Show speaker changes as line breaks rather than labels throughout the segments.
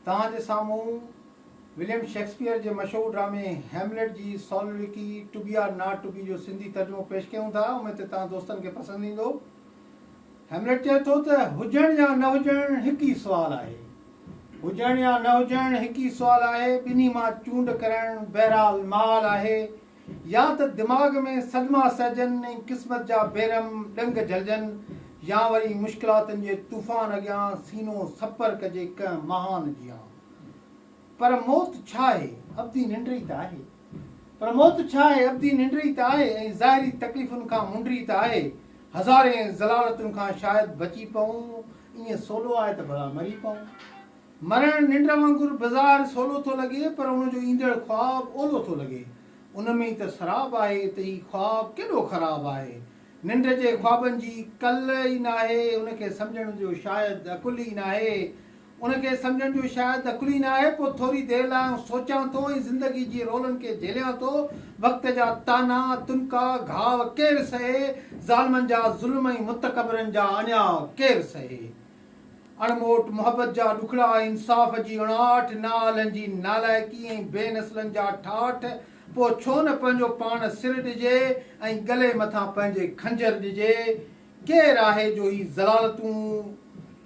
توهان جي سامهون وليم شيڪسپيئر جي مشهور ڊرامي هيملٽ جي soliloquy to be or not to be جو سنڌي ترجمو پيش ڪيون ٿا اميد ته توهان دوستن کي پسند ايندو. هيملٽ چئي ٿو ته هجڻ يا نه هجڻ هڪ ئي سوال آهي. هجڻ يا نه هجڻ هڪ ئي سوال آهي. ٻنهي مان چونڊ ڪرڻ بهرحال محال آهي. يا ته دماغ ۾ صدما سهجن ۽ قسمت جا بيرحم ڏنگ جهلجن يا وري مشڪلاتن جي طوفان اڳيان سينو سپر ڪجي ڪنهن مهان جيان. پر موت ڇا آهي؟ ابدي ننڊ ئي ته آهي. پر موت ڇا آهي؟ ابدي ننڊ ئي ته آهي ۽ ظاهري تڪليفن کان منڊ ئي ته آهي. هزارين ضلالتن کان شايد بچي پئون، ائين سولو آهي ته ڀلا مري پئون. مرڻ ننڊ وانگر بظاهر سولو ٿو لڳي پر ان جو ايندڙ خواب اولو ٿو لڳي. ان ۾ ئي ته سراب آهي ته هي خواب ڪيڏو خراب آهي. ننڊ جي خوابن جي ڪل ئي ناهي، ان کي سمجهڻ جو شايد عقل ئي ناهي. ان کي سمجهڻ جو شايد عقل ئي ناهي. پوء ٿوري دير لاء آئون سوچان ٿو ۽ زندگي جي رولن کي جهليان ٿو. وقت جا طعنا، تنڪا، گهاء ڪير سهي؟ ظالمن جا ظلم ۽ متڪبرن جا اڃاء ڪير سهي؟ اڻموٽ محبت جا ڏکڙا، انصاف جي اڻاٺ، نااهلن جي نالائقي ۽ بي نسلن جا ٺاٺ، پوء ڇو نه پنهنجو پاڻ سر ڏجي ۽ ڳلي مٿان پنهنجي خنجر ڏجي؟ ڪير آهي جو هي ذلالتون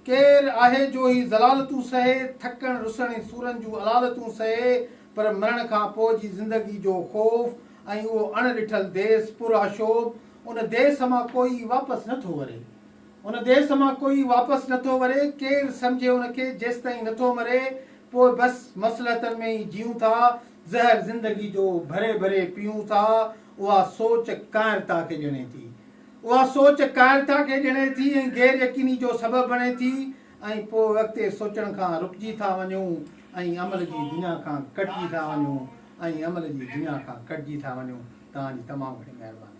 ڪير آهي جو هي ذلالتون سهي، ٿڪڻ، رسڻ ۽ سورن جون علالتون سهي، پر مرڻ کان پوء جي زندگي جو خوف ۽ اهو اڻ ڏٺل ديس پرآشوب، ان ديس مان ڪوئي واپس نه ٿو وري. هن ديس مان ڪوئي واپس نه ٿو وري، ڪير سمجهي ان کي، جيستائين نه ٿو مري، پوء بس مصلحتن ۾ ئي جيئون ٿا، زهر زندگي جو ڀري ڀري پيئون ٿا، اها سوچ ڪائنرتا کي ڄڻي ٿي. اها سوچ ڪائنرتا کي ڄڻي ٿي ۽ غير يقيني جو سبب بڻي ٿي ۽ پوء اڳتي سوچڻ کان رڪجي ٿا وڃون ۽ عمل جي دنيا کان ڪٽجي ٿا وڃون ۽ عمل جي دنيا کان ڪٽجي ٿا وڃون. توهان جي تمام گهڻي مهرباني.